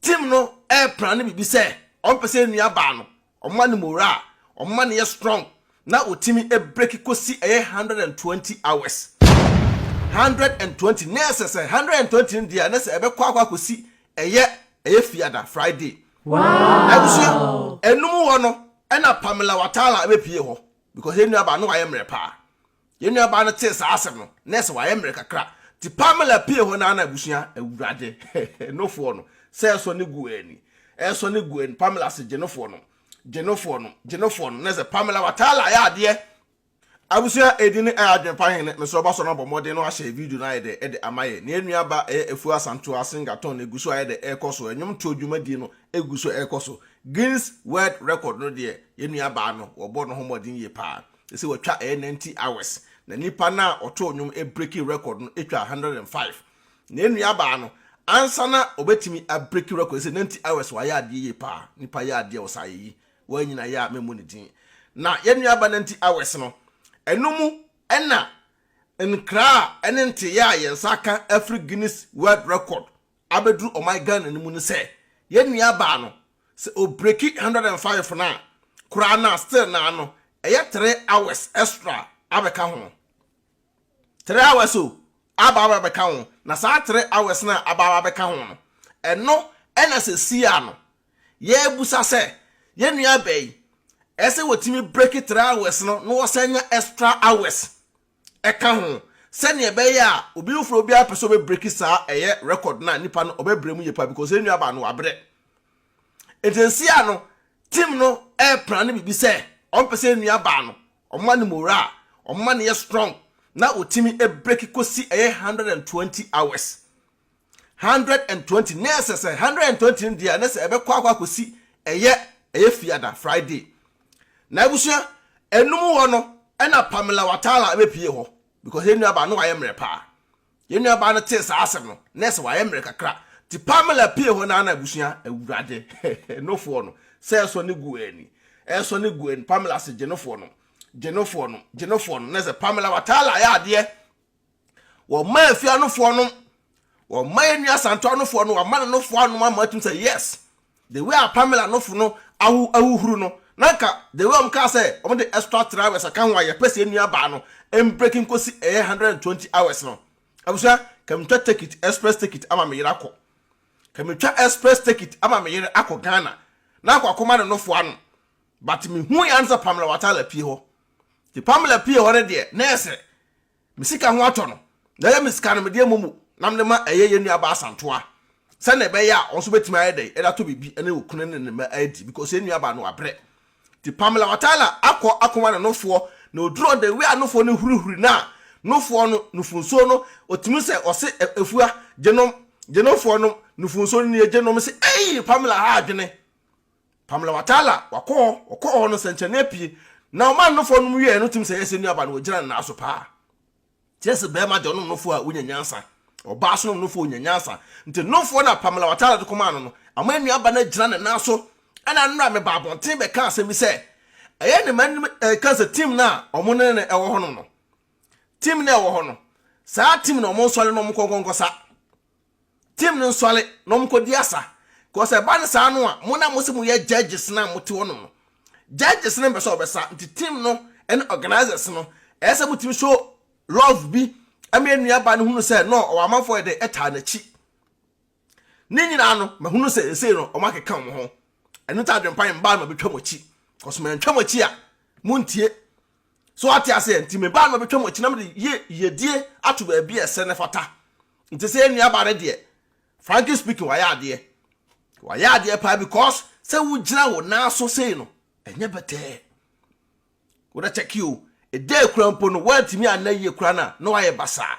team no ɛɛplan ne biribi sɛ wɔn pɛ sɛ enua baa no wɔn ma no moraa wɔn ma no yɛ strong na wɔtumi ebreki kosi ɛyɛ hundred and twenty hours hundred and twenty nɛɛsɛ sɛ hundred and twenty no deɛ ne sɛ ɛbɛkɔ akɔ akɔsi ɛyɛ ɛyɛ fiada friday. abusua enum hɔ no ɛna pamela watala ɛbɛpie hɔ because enua baa no wayɛ mmerɛ paa Yɛn nuabaa no tee saa asɛm no, na ɛsɛ sɛ wayɛ mmerɛ kakra. Nti Pamela pue hɔ no ara na abusua, Awurade, nofoɔ no, sɛ ɛresɔne gu wɔn ani, ɛresɔne gu wɔn ani, Pamela se, Gye nofoɔ no, gye nofoɔ no, gye nofoɔ no, na ɛsɛ sɛ Pamela Watala yɛ adeɛ. Abusua, ɛdi ne ɛyɛ adwene pa hene, mesrɛ ɔba sɔ no abɔ mmɔden na wahyɛ video no ayɛ dɛ ɛde ama yɛn. Nea ɛnua ba ɛyɛ Afuo Asantewaa Singaton no ɛgu so ayɛ dɛ ɛrekɔ so, ɛnwom toɔ dwumadie no ɛgu so ɛrekɔ so. Guinness World Record no deɛ, yɛn nuabaa no, wɔbɔ no ho mmɔden yie paa. Ɛsɛ sɛ watwa ɛyɛ ninety hours na nipa no a ɔtoo nnwom ɛbreki record no ɛtwa one hundred and five na ɛnuabaa no ansa na ɔbɛtumi abreki record ɛsɛ ninety hours wayɛ adeɛ yie paa nipa yɛ adeɛ wɔ saa yɛyi wɔn nyina yɛ a mɛmu ne din na yɛnuaba ninety hours no ɛno mu ɛna nkra a ɛne nteyɛ a yɛn nsa aka afiri Guinness World Record abɛduru ɔman Ghana no mu no sɛ yɛn nua baa no sɛ ɔbreki hundred and five no a koraa no a still naa no ɛyɛ three hours extra abɛka ho three hours o aba aba bɛka ho na saa three hours no a aba aba bɛka ho no ɛno ɛna sɛ sia no yɛbusa sɛ yɛn nua baa yi ɛsɛ wɔtumi breki three hours no na wɔsan nya extra hours Ɛka ho, sɛnea ɛbɛyɛ a obi foforɔ biara pɛ sɛ ɔbɛbreki saa ɛyɛ record no a nipa no ɔbɛbrɛ mu yie paa because yɛn nuabaa no wabrɛ. Nti nsia no team no ɛrepra ne biribi sɛ wɔn pɛ sɛ yɛn nuabaa no wɔn ma no morale, wɔn ma no yɛ strong na ɔtumi breki kɔsi ɛyɛ 120 hours. hundred and twenty na ɛsɛ sɛ hundred and twenty no deɛ ne sɛ ɛbɛkɔ akɔ akɔsi ɛyɛ ɛyɛ fiada friday na abusua ɛnum hɔ no ɛna pamela watala ɛbɛpie hɔ because yɛn nuabaa no wayɛ mmerɛ paa yɛn nuabaa no tee saa asɛm no na ɛsɛ wayɛ mmerɛ kakra ti pamela pie hɔ na ana abusua awurade nofoɔ no sɛ ɛsɔ ne gu ani ɛsɔ ne gu ani pamela se gyenofoɔ no gyenofoɔ no gyenofoɔ no na ɛsɛ pamela watala ayɛ adeɛ wɔma afie anofoɔ nom wɔma yɛn nua santo anofoɔ no wɔama no nofoɔ anom ama atum sɛ yes the way a pamela nofo no ahu ahuhuru no na nka the way wɔn kaa sɛ wɔn de extra three hours aka ho a yɛpɛ sɛ nua baa no mbreki nkosi ɛyɛ eh, hundred and twenty hours no abusua kɛmtwa take it express take it ama me yere akɔ kɛmtwa express take it ama me yere akɔ ghana na akɔ akɔma no nofoɔ anom But me hui ansa Pamela Watala pie hɔ. Nti Pamela pie hɔ no deɛ na yɛ sɛ me sika ho atɔ no. Na ɛyɛ me sika no mede amɔ mu na mede ma ɛyɛ yɛn nua baa Santoa. Sɛnea ɛbɛyɛ a ɔnso bɛtumi ayɛ dɛn ɛde atɔ biribi ɛne okunu ne ne mma adi because yɛn nua baa no wabrɛ. Nti Pamela Watala akɔ akɔma ne nofoɔ na oduru hɔ the way a nofoɔ no hurihuri no a nofoɔ no nufu nsuo no otumi sɛ ɔse Afua gye nom, gye nofoɔ nom nufu nsuo no nie gye nom se eii Pamela ha adwene Pamela Watala, wakɔ hɔ, ɔkɔɔ hɔ no sɛnkyerɛnne apue, na ɔman no fɔ nom wieɛ no tim sɛ yɛsɛ nuaba no wɔgyina ne nan so paa. Kyerɛ sɛ bɛrima deɛ ɔnom nofo a wonya nyansa, ɔbaa so nom nofo onya nyansa. Nti nomfoɔ na Pamela Watala de kɔmaa no no, ama nuaba no agyina ne nan so. Ɛna nnora mebaa abɔnten bɛkaa asɛm bi sɛ, ɛyɛ ne manim ɛka sɛ tim no a ɔmo ne no ɛwɔ hɔnom no, tim no a ɛwɔ hɔ no, saa tim no ɔmo nsɔre na ɔmo nkɔ nkɔnkɔsa. Team no nsɔre na wɔn kɔdi asa. Cause ɛba no saa no a, mo na mo se mo yɛ judges no a mo te hɔ nom no, judges no mpɛ sɛ ɔbɛsa, nti team no ɛne organisers no, ɛyɛ sɛ mo tumi show love bi ɛma yɛn nua ba no hunu sɛ no ɔwɔ amanfoɔ yɛ dɛ ɛtaa n'akyi. Ne nyinaa no, mahunu sɛ ɛsei no wɔn akeka wɔn ho. Ɛno nti adwempa yi mbaa no ma bɛtwa mo akyi. Cause mantwa mo akyi a, mo ntie. So wate aseɛ? Nti me baa no bɛtwa mu akyi na mede yie yiedie ato baabi a ɛsɛ na ɛfata. Nti sɛ yɛn nuabaa no deɛ, frankly speaking, wayɛ adeɛ. Wayɛ adeɛ paa because sɛ wogyina wo nan so sei no, ɛnyɛ bɛtɛɛ. Wodɛ kyɛke o, ɛda akura mpo no, woantumi anna yie koraa no a, na wayɛ basaa.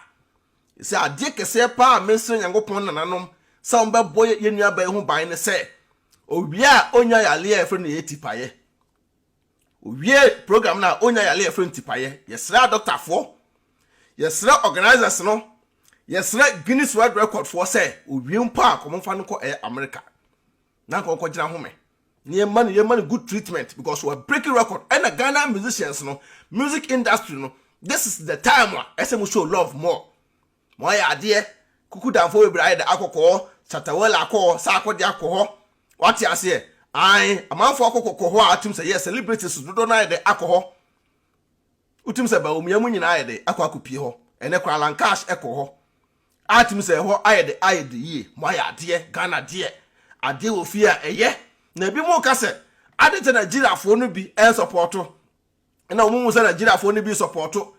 Ɛsɛ adeɛ kɛseɛ paa a mesrɛ Nyankopɔn nananom sɛ wɔbɛbɔ yɛn nuabaa yi ho ban ne sɛ, owie a ɔnya yareɛ a yɛfrɛ no yɛ tipaeɛ. Owiee program no a onyaa yare a yɛfrɛ no tipaeɛ. Yɛsrɛɛ dɔktafoɔ, yɛsrɛɛ organisers no, yɛsrɛɛ Guinness World Record foɔ sɛ owie mpo a nka wɔmfa no nkɔ ɛyɛ America na nka ɔnkɔgyina home na yɛma no yɛma no good treatment because wa breaking record. Ɛna Ghana musicians no, music industry no, this is the time a ɛsɛ mo show love more. ma ɔayɛ adeɛ, kuku damfoɔ bebree ayɛ dɛ akɔkɔɔ, Chatawala akɔɔ sɛ akɔdeɛ akɔ hɔ, wate aseɛ, ae, amanfoɔ akɔkɔ kɔ hɔ a wotim sɛ yes celebrities dodoɔ no ayɛ dɛ akɔ hɔ, wotim sɛ Bawumia mu nyinaa ayɛ dɛ akɔ akɔ pie hɔ, ɛnɛ koraa Lankash ɛkɔɔ hɔ, a tim sɛ ɛhɔ ayɛ dɛ ayɛ dɛ yie, mo ayɛ adeɛ, Ghana deɛ, adeɛ wɔ fie a ɛyɛ, na ebi mo ka sɛ, ade nti a Nigeriafoɔ no bi ɛnsɔpɔɔto, na wɔn mu sɛ nigeriafoɔ no bi sɔpɔɔto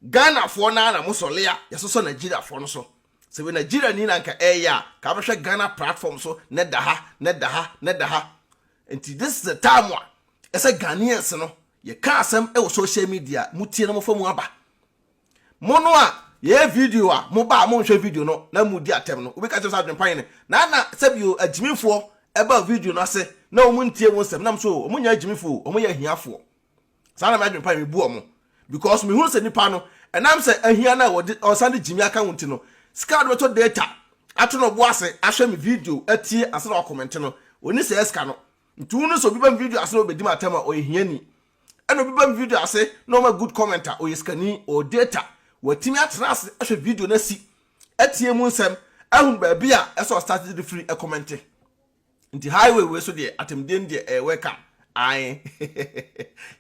ghanafoɔ no ara na mosɔle a yɛsosɔ nigeriafoɔ no so sɛ wei nigeria ni na nka ɛyɛ a ka bɛhwɛ ghana platform so ne da ha ne da ha ne da ha nti this is the time a ɛsɛ ghanaians no yɛka asɛm wɔ social media mutie na mofa mu aba Mo no a yɛyɛ video a mo ba a monhwɛ video no na mo di atɛm no, obi ka kyerɛ sɛ adwempa yɛ ne na na sɛbio agyimifoɔ ɛba video no ase na wɔn ntie wo nsɛm na mo so wɔn nyɛ agyimifo o wɔn yɛ ahiafoɔ saa na me adwempa yɛ me bu wɔn because me hunu sɛ nipa no ɛnam sɛ ahia na wɔde ɔsan de gyimi aka wɔn ti no sika wɔde bɛtɔ data ato no ɔbo ase ahwɛ me video atie ase na wakɔmɛnte no oni sɛ ɛsika no nti wo no sɛ obi ba me video ase na ɔbɛdi ma atɛm a ɔyɛ hiani ɛna obi ba me video ase na ɔma good comment a ɔyɛ sikani ɔwɔ data watumi atena ase ahwɛ video no asi atie mu nsɛm ahunu baabi a ɛsɛ ɔstart de firi ɛkɔmɛnte nti highway wei so deɛ atemdeɛ no deɛ ɛyɛ welcome ae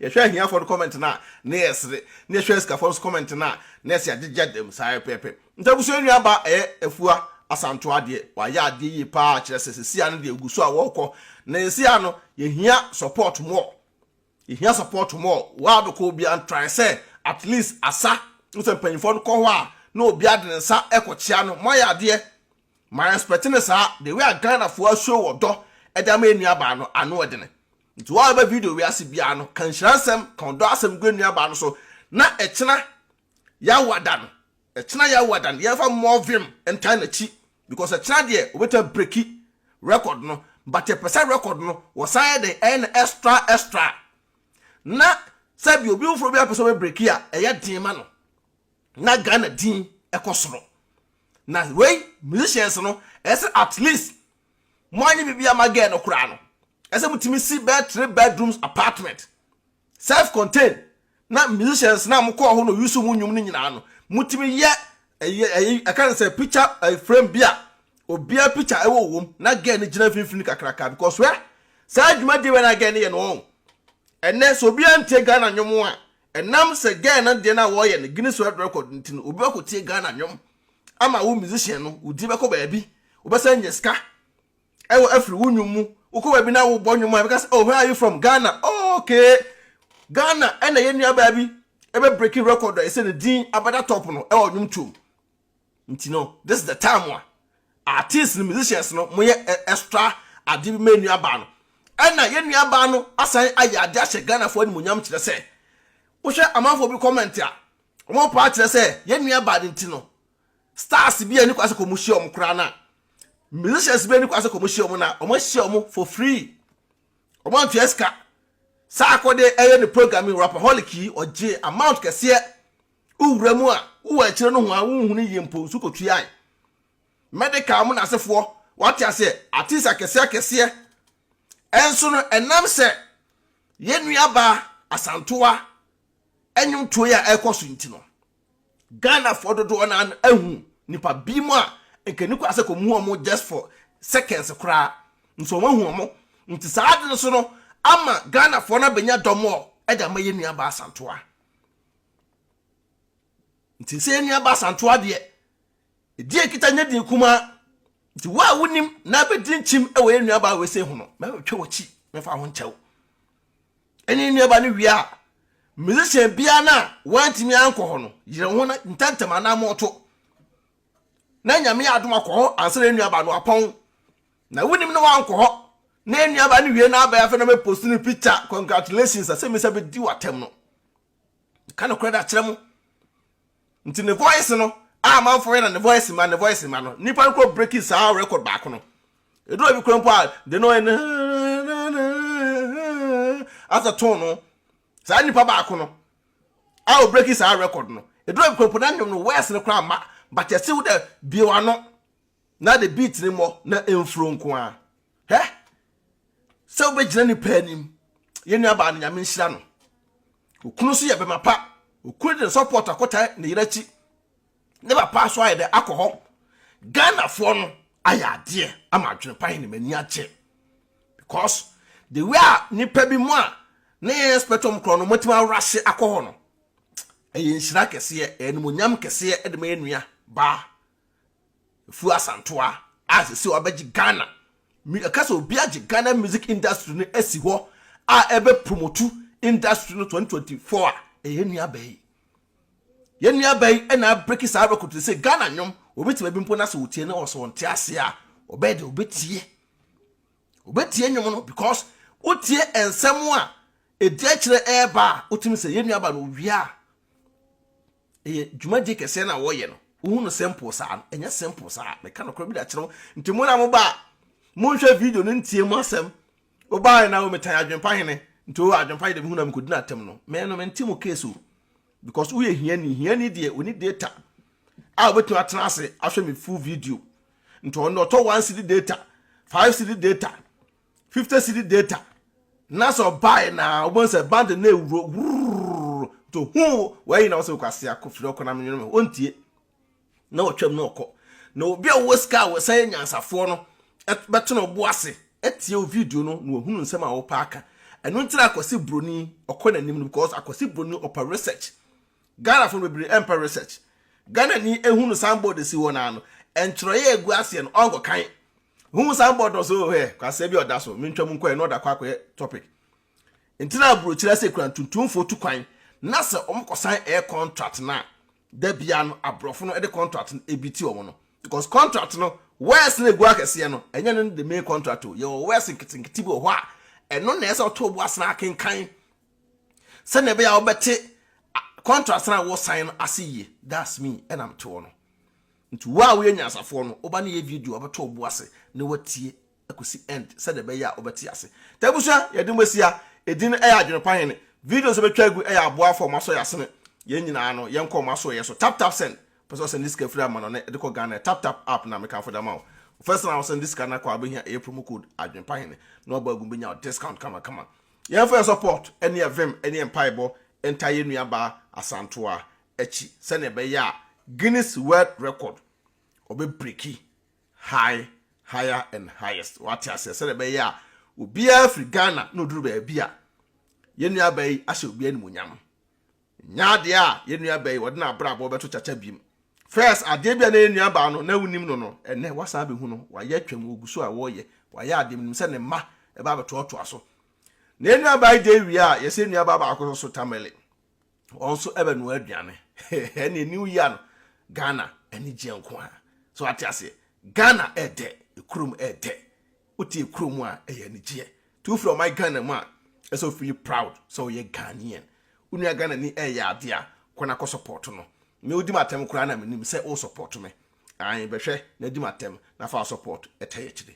yɛhwɛ ahiafoɔ no comment no a na yɛsere na yɛhwɛ asikafoɔ no so comment no a na ɛsɛ agyegya dam saa pɛpɛ nti abusua nua ba ɛyɛ afua asantoa deɛ wayɛ adeɛ yie paa kyerɛ sɛ sɛsia no deɛ ɛgu so a wɔkɔ na yɛsia no yɛhia support more Yɛhia support more. World kɔ obiara ntrae sɛ at least asa wohu sɛ mpanyinfoɔ no kɔ hɔ a na obiara de ne nsa kɔkyea no. Moayɛ adeɛ. Ma respect no saa. The way a Ghanafoɔ ashow ɔdɔ de ama yɛn nuabaa no ano dene. Nti wo a woba video wei ase biara no ka nhyira nsɛm, ka ɔdɔ asɛm gu yɛn nuabaa no so na ɛkyena Yawa da no, ɛkyena Yawa da no, yɛmfa mmɔɔvem ntan n'akyi because ɛkyena deɛ obɛtumi abreki record no but yɛpɛ sɛ record no wɔsan yɛ dɛn ɛyɛ no extra extra na sɛbi obi foforɔ bi apɛ sɛ ɔbɛbreki a ɛyɛ den ma no na Ghana din ɛkɔ soro na wei musicians no ɛsɛ at least moanyɛ biribi ama girl no koraa no ɛsɛ mo tumi si bɛyɛ three bedrooms apartment self contained na musicians na mo kɔɔ hɔ na oyi so mo nnwom no nyinaa no mo tumi yɛ ɛyɛ ɛyɛ ɛka ne sɛ picture ɛyɛ frame bi a obiara picture ɛwɔ wɔm na girl no gyina mfimfini kakraka because wɛ saa adwuma deɛ wɛ na girl no yɛ no wɔn ɛnɛ sɛ obiara ntie Ghana nnwom a ɛnam sɛ girl no deɛ no a wɔyɛ no Guinness World Record nti no obi bɛkɔ tie Ghana nnwom ama wo musician no wodi bɛkɔ baabi wobɛsan nya sika ɛwɔ afiri wo nnwom mu wokɔ baabi na wobɔ nnwom a ɛbɛka sɛ oh where are you from Ghana oh okay Ghana ɛna yɛn nuabaa bi ɛbɛ breaking record a ɛsɛ ne din abɛda top no ɛwɔ nnwom tuom nti no this is the time a artists no musicians no mo yɛ extra ade bi ma yɛn nuabaa no ɛna yɛn nuabaa no asan ayɛ ade ahyɛ Ghana fo animonyam kyerɛ sɛ wohwɛ amanfoɔ bi comment a wɔn paa kyerɛ sɛ yɛn nuabaa no nti no stars bi a ɛni kwan sɛ kɔmu hyia wɔn koraa na musicians bi ɛni kwan sɛ kɔmu hyia wɔn na wɔn ahyia wɔn for free wɔn antua sika saa akɔde ɛyɛ ne program yi rapaholic yi ɔgye amount kɛseɛ wowura mu a wowɔ akyire no ho a wohunu yie mpo nso kɔtuae medical mu na asefoɔ wate aseɛ artist akɛseɛ akɛseɛ ɛnso no ɛnam sɛ yɛn nuabaa asantoa ɛnwomtoe a ɛkɔ so nti no Ghanafoɔ dodoɔ no ara no ahu nipa bi mu a nka ni koraa sɛ kɔmu wɔn just for seconds koraa nso wɔn ahu wɔn nti saa ade no so no ama Ghanafoɔ no abɛnya dɔm ɔ ɛde ama yɛ nua baa santoa nti sɛ yɛ nua baa santoa deɛ ɛdi ɛkita nyɛ din kumaa nti wo a wonim na abɛdi nkyim ɛwɔ yɛ nua baa wɔ ɛsɛ ho no mɛtwa wɔkyi mɛfa ho nkyɛw ɛne ne nuabaa no wie a, musician biara no a wantumi ankɔ hɔ no yere ho na ntɛntɛm anammɔn to na nyame yɛ adom akɔ hɔ ansa na ne nuabaa no apɔn na wonim no wankɔ hɔ na ne nuabaa no wie na abɛyɛ afei na mɛpost no picture congratulations asɛmmisa bɛdi wɔ atɛm no ka nokorɛ de akyerɛ mo nti ne voice no a amanfoɔ yɛ na ne voice ma ne voice ma no nnipa no kɔ breaking saa record baako no ɛduru abi kora mpo a de no ɛne as a tone no saa nnipa baako no a ɔ breaking saa record no ɛduru abi kora mpo na nnwom no voice no kora ma but ɛse wo dɛ biewa no na de beat ne mmɔ na ɛmfuro nko a Hɛ! Sɛ wobɛgyina ne pɛ anim. Yɛn nua baa no nyame nhyira no. Okunu nso yɛ bɛma pa. Okunu de ne support akɔtae ne yere akyi. Ne papa nso ayɛ dɛ akɔ hɔ. Ghanafoɔ no ayɛ adeɛ ama adwene pa he ne m'ani agye. Because the way a nipa bi mu a na yɛn expect wɔn korɔ no wɔatumi awurahye akɔ hɔ no, ɛyɛ nhyira kɛseɛ, ɛyɛ animonyam kɛseɛ de ma yɛn nua baa Afu Asantoa a sese wabɛgye Ghana mu ɛka sɛ obi agye Ghana music industry no asi hɔ a ɛbɛ promotu industry no 2024 a ɛyɛ nuaba yi. Yɛ nuaba yi ɛna abreki saa record no sɛ Ghana nwom obi te baabi mpo na sɛ otie no ɔsɛ ɔnte ase a ɔbɛyɛ de obetie. Obetie nwom no because wotie nsɛm a ɛdi akyerɛ ɛɛba a wotumi sɛ yɛ nuaba no owia a ɛyɛ dwumadie kɛseɛ no a wɔyɛ no wohu no simple saa no ɛnyɛ simple saa meka nokorɛ bi da kyerɛ wo nti mo na moba a monhwɛ video no ntie mu asɛm wobaeɛ na wometan adwempa hene nti o adwempa yɛ de mehu na mekɔdi no atɛm no mɛɛ no mente mo case o because woyɛ hiani hiani deɛ ɔni data a wobɛtumi atena ase ahwɛ me full video nti ɔno ɔtɔ one city data five city data fifty cedi data na sɛ ɔbae na wobɛhu sɛ band no ɛwuro wurr to ho wayi na wo sɛ wokwase akɔ firi ɔkɔ na menwene me ɔntie na ɔtwam na ɔkɔ na obi a wowɔ sika a wɔsan yɛ nyansafoɔ no bɛto no bo ase atie wo video no na wahunu nsɛm a wopɛ aka ɛno nti na akwasi broni ɔkɔ n'anim no because akwasi broni ɔpɛ research Ghana fo no bebree ɛmpɛ research Ghana ni ehunu sanbɔɔd si hɔ naa no ɛntwerɛeɛ egu aseɛ no ɔnkɔ kan Wohu saa bɔ dɔ so hɛ kwasɛ bi ɔda so mentwa mu nkɔɛ na ɔda kɔ akɔyɛ topic nti na aburokyiri ase kura ntuntumfoɔ tu kwan na sɛ wɔn kɔsan ɛyɛ contract na da bia no aborɔfo no de contract no ebi ti wɔn no because contract no wɛs na egu akɛseɛ no ɛnyɛ no the main contract o yɛ wɔ wɛs nketenkete bi wɔ hɔ a ɛno na ɛsɛ ɔtɔ bo asena akenkan sɛnea ɛbɛyɛ a wɔbɛte contract na wɔsan no ase yie that's me ɛnam toɔ no. Nti wo a woyɛ nyansafoɔ no, woba ne yɛ video a wobɛtɔ wo bo ase ne woatie akosi end sɛdeɛ ɛbɛyɛ a wobɛte ase. Taa abusua, yɛde mo asi ha. Edin ɛyɛ Adwenepa Hene. Videos a yɛbɛtwa agu ɛyɛ aboafoɔ a wɔn asɔ yɛn asene. Yɛn nyinaa no, yɛnkɔ wɔn asɔeɛ so. Tap tap send. Wopɛ sɛ wosɛnde sika firi amanɔne de kɔ Ghana a, tap tap app no a mekamfo de ama wo. Wo first time a wosɛnde sika no akɔ a, wobɛhia ɛyɛ promo code Adwenepa Hene na wabɔ agu mu bɛnya wo discount kama kama. Yɛmfa yɛn support ɛne yɛn vim ɛne yɛn mpaebɔ ntaa yɛn nuabaa Asantewaa akyi sɛnea ɛbɛyɛ a Guinness World Record ɔbɛbreki high higher and highest wate aseɛ sɛnea ɛbɛyɛ a obiara firi Ghana na ɔduru baabi a yɛn nua baa yi ahyɛ obiara animuonyam nya adeɛ a yɛn nua baa yi wɔde no abrabɔ bɛto kyakya biem first adeɛ bi a na yɛn nua baa no na wonim no no ɛnɛ wasan bɛhu no wayɛ atwam wɔgu so a wɔreyɛ wayɛ adeɛ menim sɛ ne mma ɛbɛ abɛtoatoa so na yɛn nua baa yi deɛ wie a yɛsɛ nua baa baako so so tamale wɔn nso ɛbɛnoa aduane ɛne new year no ghana anigyeɛ nko a so ate aseɛ ghana ɛdɛ ekurom ɛdɛ wote ekurom a ɛyɛ anigyeɛ tí wofiri ɔman ghana mu a ɛsɛ ofili proud sɛ ɔyɛ ghanaian onua ghana ni ɛyɛ adeɛ a kwan akɔ support no mɛ odi ma atɛm koraa na menim sɛ o support me ayi bɛhwɛ na di ma atɛm na fa support ɛtɛ yɛ kyerɛ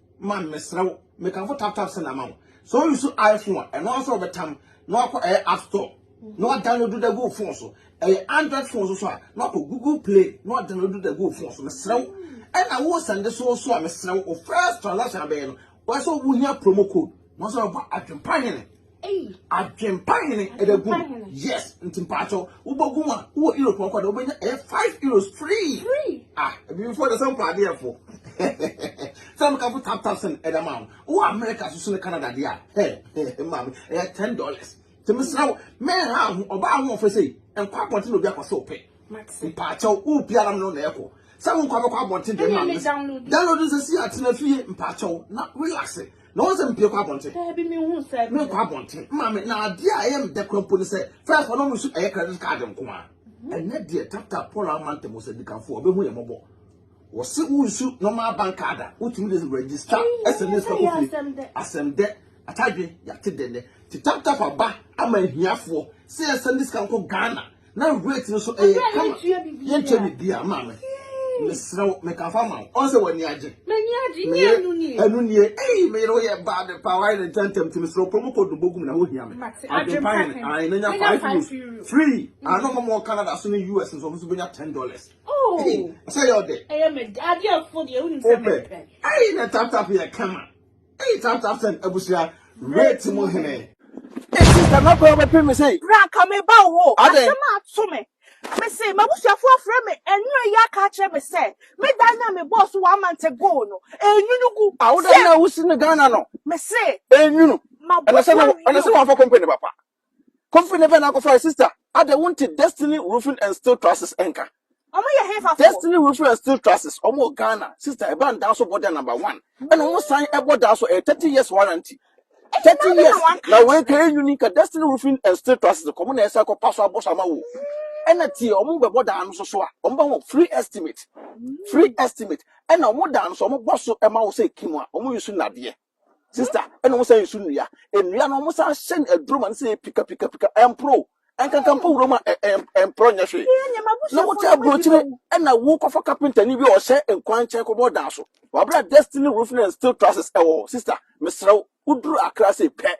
man mesrɛ wo mekamfo tap tap send ama wo sɛ o use iphone a ɛno ara sɛ wɔbɛtam na wakɔ ɛyɛ app store na wadownload da gu phone so ɛyɛ android phone so so a na wakɔ google play na wadownload da gu phone so mesrɛ wo ɛna wo sɛnde so so a mesrɛ wo first transaction abɛyɛ no wɔsɛ wohia promo code na wɔsɛ wɔbɔ adwempa hene Adwempa hene ɛda gu yes nti mpatsɔ wobɛgu mu a wowɔ euro pɔnkɔ de wobɛnya ɛyɛ five euros free ah ebibifo de sɛ mpɔ adeɛfo sɛ mekafo tap tap sɛn ɛda ma wo wowɔ america soso ne canada deɛ a hɛ maame ɛyɛ ten dollars nti mesrɛ wo mɛnha ho ɔbaa ho ɔfɛ sei nkɔ abɔnten na obi akɔsɛ wo pɛ Mate. Mpaakyɛw, wo pia na mene na ɛkɔ. Sɛ wo nkwa bɛkɔ abɔnten deɛ ma mene. Download nsɛ si atena fie mpaakyɛw na relax. Na wɔn sɛ mpie kɔ abɔnten. Daabi me hu sɛ. Me nkɔ abɔnten. Maame na adeɛ a ɛyɛ mdɛ kura mpo ne sɛ first ɔno mu so ɛyɛ credit card nko a. Mhm. Ɛnɛ deɛ tap tap Paul ama ntɛm sɛ dikanfo ɔbɛhu yɛ mɔbɔ. Wɔsi wo nsu normal bank card a wotumi de register SMS kɔ fie. Asɛm dɛ. Atadwe yɛate dɛ nɛ. Ti tap tap aba ama ahiafoɔ sɛ yɛsɛn de sika nkɔ Ghana. na weight no so ɛyɛ kama yɛntua biribi a maame mesrɛ wo mekafa ma wo ɔn sɛ w'ani agye m'ani agye ne ɛnu nie ɛnu nie ɛyi meyere wo yɛ baa de paa wayɛ ne ntɛntɛm ti mesrɛ wo promo code no bɔgum na wohia me adwempa hene ae na nya five euros free ano mɔmɔ wɔ canada so ne us nso ɔmo so bɛnya ten dollars ɛsɛ yɛ ɔdɛ ɛyɛ mɛ adeɛ fo deɛ wonim sɛ mɛpɛ ɛyi na taptap yɛ kama Eyi tantan sɛn abusua rate mu hene. Esi sɛ na kɔ bɛpem me sɛ. Bra anka me ba wo hɔ. Asɛm a ato me. Me se m'abusuafo afrɛ me ɛnura yi aka akyerɛ me sɛ me dan no a me bɔɔ so one month ago no ɛnwunu gu. Awoda no a wosi no Ghana no. Me se. Ɛnwunu. Ɛna sɛ na ɛna sɛ wamfa company papa. Kofi ne pɛ na akɔfa sista. Ada wonte Destiny Roofing and Steel Trusses nka. Ɔmo yɛ hefa fo? Destiny Roofing and Steel Trusses, ɔmo wɔ Ghana. Sista, ɛba ndaa so bɔ da number one. Ɛna ɔmo san ɛbɔ daa so, ɛyɛ thirty years warranty. Thirty years, na wei ka ɛnwini nka Destiny Roofing and Steel Trusses kɔ, ɔmo na ɛsan kɔ pa so abɔ so ama wo. Ɛna tie, ɔmo bɛ bɔ daa no so so a, ɔmo bɛ ho free estimate, free estimate. Ɛna ɔmo daa no so, ɔmo bɔ so ɛma wo sɛ ɛki mu a, ɔmo use nnadeɛ. Sister, ɛna wɔn san nsu nnua. Nnua no wɔn san hyɛ no aduro ma no sɛ pika pika pika ɛmporo. Ɛnkankan mpo wuram a ɛmporo nyɛ hwee. Na wote aburokyire ɛna wokɔfa kapentani bi a ɔhyɛ nkwan nkyɛn kɔbɔ ɔdan so. Wabra destiny roofing and steel trusses ɛwɔ hɔ. Sister, mesrɛ wo, woduru Accra sei pɛ,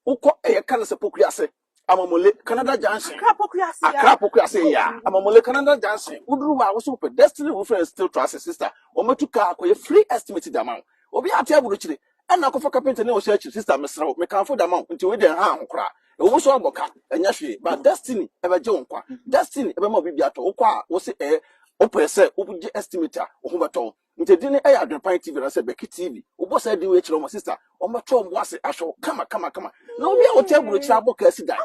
Wokɔ ɛyɛ ka no sɛ Poku ase, Amamule, Canada Junction. Accra Poku ase yaa. Accra Poku ase yaa, Amamule, Canada Junction. Woduru hɔ a, wosɛ wopɛ Destiny Roofing and Steel Trusses, sister, wɔatu kaa akɔyɛ free estimate de ama wo. Obiara te aburokyire, ɛnna akɔfa kapentani a ɔhyɛ akyiri, sister, mesrɛ wo, mekamfo de ama wo, nti wei deɛ ɛnha ho koraa. Ɛwɔ mu sɛ woabɔ ka, ɛnyɛ hwee, but Destiny bɛgye wo nkwa. Destiny bɛma wo biribi atɔ. Wokɔ a, wose ɛɛ, wopɛ sɛ wogye estimate a, wo ho bɛtɔ wo. Nti din no yɛ Adwenpan TV anaasɛ Bɛki TV. Wobɔ saa din wei kyerɛ wɔn a, sista, wɔbɛtɔ wɔn bo ase ahwɛ wo kama kama kama. Na obi a ɔte aburokyiri abɔ kaa si dan,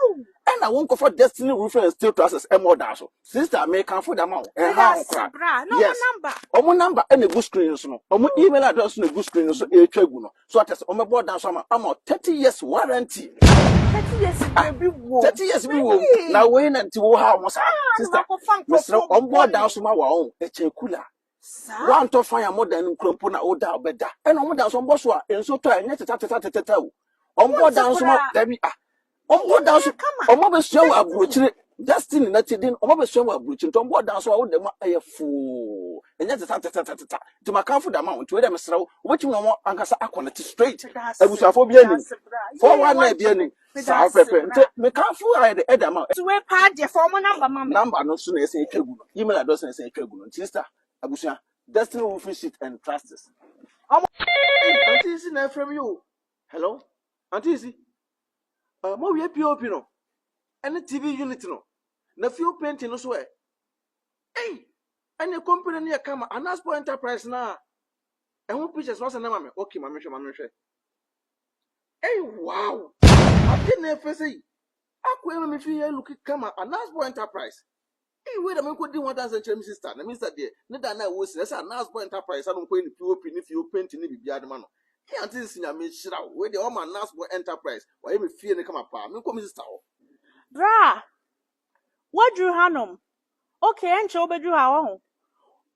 ɛna wonkɔfa Destiny Roofing and Steel Trusses mmɔ dan so. Sista, mekamfo de ama wo, ɛnhaw ho koraa. Yes, wɔn number na egu screen no so no, wɔn email address na egu screen no so ɛretwa agu no. So ate ase, wɔbɛbɔ dan so ama, ama wo 30 years warranty. Thirty years ah, bi wɔ. Thirty years bi wɔ. Na wei na nti wo ha wɔn saa. Sista, mesrɛ wɔn bɔ dan so ma wɔn, ɛkyɛ kula. Woantɔ fan a modɛn no nkura mpo na woda a bɛda. Ɛna wɔn da nso wɔbɔ so a nso tɔ a ɛnyɛ tetɛtetɛtetɛtɛw. Wɔbɔ da nso ma dabi a. Wɔbɔ da nso wɔn abɛsua wɔ aburokyire destiny na ti den wɔn abɛsua wɔ aburokyire nti wɔbɔ da nso a woda mu a ɛyɛ foo ɛnyɛ tetɛtetɛtetɛtɛ. Nti makanfo da ma wɔn nti wei dɛ mesrɛ wo wobɛtumi na wɔn ankasa akɔ ne te straight abusuafoɔ bi anim fɔwa na ebi anim. Saa wo pɛpɛ nti mekamfo ayɛ de ɛda ma nti wei paa deɛ fa ɔmo namba ma me namba no so na ɛsɛ atwa gu no email address na ɛsɛ atwa gu no nti sista abusua destiny roofing sheet and trusts ɔmo anti si na ɛfrɛ mi o hello anti si uh, mo wie pop no ɛne tv unit no na fio painting no so ɛ ei ɛne company no yɛ kama anasport enterprise na ɛho pictures no asɛ na ma me okay ma mehwɛ ma mehwɛ Ei wow! Ade na ɛfɛ sɛ yi. Akɔyɛ ma me fie yɛ look kama Anasbo Enterprise. Ei wei na me kɔdi ho adanse nkyerɛ me sister na me sister deɛ ne da na ɛwɔ si na ɛsɛ Anasbo Enterprise ano nkɔyɛ ne POP ne fie o painting ne biribiara de ma no. Ei aunty nsi Nyame nhyira wo wei deɛ wama Anasbo Enterprise wayɛ me fie no kama paa. Me nkɔ me sister hɔ. Berɛ a Woaduru hanom. Okay, ɛnkyɛ wobɛduru ha, woahu.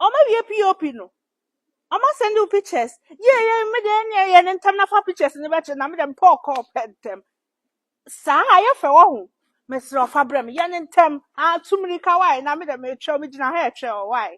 Wɔawie POP no. Wɔasɛnde wo pictures. Yie, yie, me deɛ ɛnneɛ yɛ no ntɛm na fa pictures no bɛkyerɛ na me deɛ mepɛ ɔkɔɔ pɛ ntɛm. Saa a, ɛyɛ fɛ, woahu. Mesrɛ wo fa brɛ me, yɛ no ntɛm. Ah, tu mmirika, why? Na me deɛ meretwɛn, megyina ha retwɛn wo, why?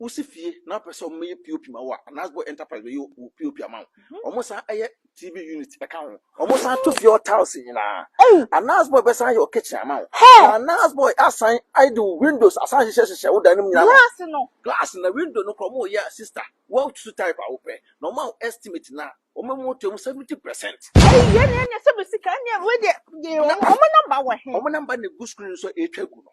Wosi fie na wopɛ sɛ wɔyɛ POP ma wo a, anaasɛ bɔ enterprise bɛyɛ wo POP ama wo. Mhm. Wɔn san yɛ TV unit ɛka ho. Wɔn san to fie hɔ tiles nyinaa. Anaasɛ bɔ bɛsan yɛ wo kitchen ama wo. Anaasɛ bɔ asan ayɛ de wo windows asan hyehyɛ hyehyɛ wo dan no mu nyinaa. Glass no. Glass na window no kora wɔn yɛ sister. Wɔn tutu type a wopɛ. Na wɔn a estimate na wɔn mu to mu seventy percent. Ɛyi yɛ ne ɛnyɛ sɛ bɛ sika ɛnyɛ wei deɛ. Wɔn namba wɔ he. Wɔn namba na egu screen so a ɛretwa gu no.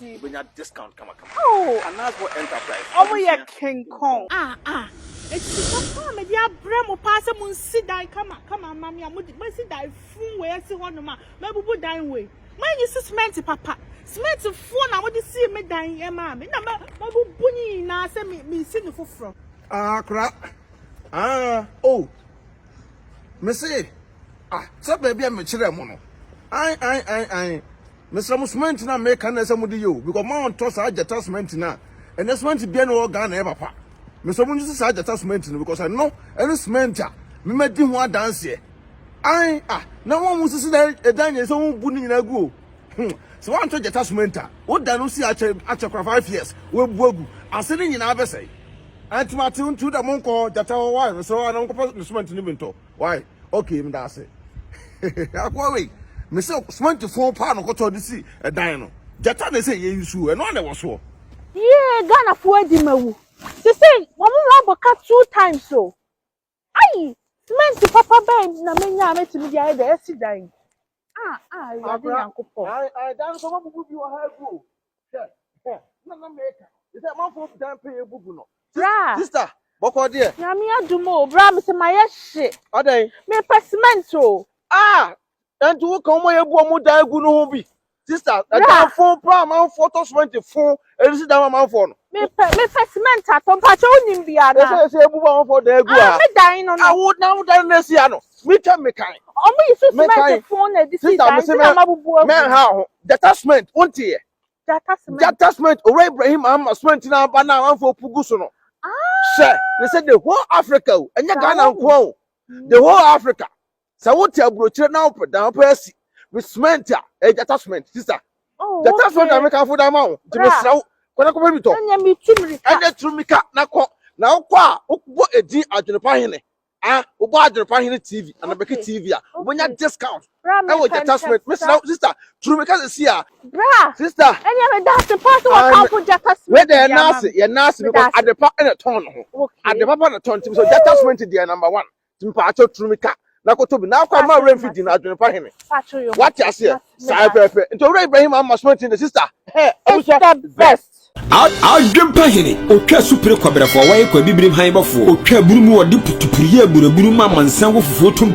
Wobɛnya discount kamakama. Anasvor Enterprise. Wɔn yɛ kenkɔn. A a. Eti sika ko a mede abrɛ mo paa sɛ monsi dan kama kama mma me a mode moasi dan fun wei asi hɔnom a mabubu dan wei. Moanyi si cement papa. Cement foɔ na mode sii me dan yi maa me na mabubu ne nyinaa sɛ me mesi no foforɔ. Ah kora ah oh mese ah sɛ baabi a mekyerɛɛ mo no ae ae ae ae Mesrɛ mo cement no a meka no na ɛsɛ mode yɛ o because mo a ɔntɔ saa gyata cement no a ɛnɛ cement biara ni wɔ Ghana ɛyɛ papa. Mesrɛ mo ngyese saa gyata cement no because ɛno ɛne cement a me madi ho adanseɛ. Ae ah na mo a mo sisi dan ɛdan nyɛ sɛ mo bu ne nyinaa gu o. Hmm sɛ wantɔ gyata cement a wo da no si akyɛ akyɛ kora five years wabu agu ase ne nyinaa bɛsɛe. Ɛnti mate nti wo da mo nkɔ gyata hɔ why mesrɛ wo a na mo nkɔfa ne cement no bi ntɔ. Wai okay meda ase. Akoa wei me se cement fon paa no kɔtɔ de si ɛdan no. Gyata na ɛsɛ yɛ nsuo ɛno a na ɛwɔ soɔ. Yee Ghana foɔ adi ma wu. Sesei wɔn ho abɔ ka two times o. Ayi cement papa bɛn na menya a mɛtumi de ayɛ de asi dan yi. Ah, ah, Awurade Nyankopɔn. Ɛdan nso wɔbubu bi wɔ ha agu o. Hwɛ, na na meka. Sɛ manfo dan pɛ yɛ bubu no. Bra. Sister, bɔkɔ deɛ. Nyame adum o, bra me sɛ ma yɛ hye. Adɛn? Me pɛ cement o. Ah, ɛnti wo kan mo yɛ bu ɔmo dan agu no ho bi. Sister, ɛdan fo pa manfo tɔ cement fo Ɛnu si dan ma manfoɔ no. Mepɛ mepɛ cement atɔ mpakyɛ wonim bi ana. Ɛsɛ ɛsɛ ebu ba manfoɔ dan egu ha. Me dan no no. Awo na wo dan na si ha no. Me twɛ me kan. Ɔmo yi so cement fon na ɛde si dan ti na ma bubu agu. Mɛ ha ho jata cement wo nti yɛ. Jata cement. Jata cement owura Ibrahim ama cement na aba na manfoɔ pugu so no. Hyɛ ne sɛ the whole Africa o ɛnyɛ Ghana nko o the whole Africa. Sɛ wote aburokyire na wopɛ dan wopɛ asi me cement a ɛyɛ gyata cement sista. Oh, gyata okay. cement na meka fo dan ma wo nti mesrɛ wo kɔnɛ kɔpɛ bi tɔ. Ɛnyɛ mi tu mirika. Ɛnyɛ tu mirika na kɔ na wokɔ a wobɔ edin adwenepa hene ah wobɔ adwenepa hene tv anabɛki okay. tv a wobɛnya okay. discount ɛwɔ gyata cement mesrɛ wo sista tu mirika sɛ si a. bra sista ɛnyɛ mi daase paa sɛ wɔka fo gyata cement deɛ naase yɛ naase because adepa ɛna tɔn no ho adepa pa na tɔn ti so gyata cement deɛ number one. mpatsɔ turu mi ka na koto bi na akwa ma awura nfi di na adwene pa hene wate aseɛ saa pɛpɛ nti owura ibrahim ama sɔnti ne sista hɛ abusua best adwene pa hene otwa supere kwabrɛfoɔ wɔyɛ kwa bibirim han bɔfoɔ otwa buru mu wɔde putupuruyɛ buraburu ma amansan wɔ fufuo tom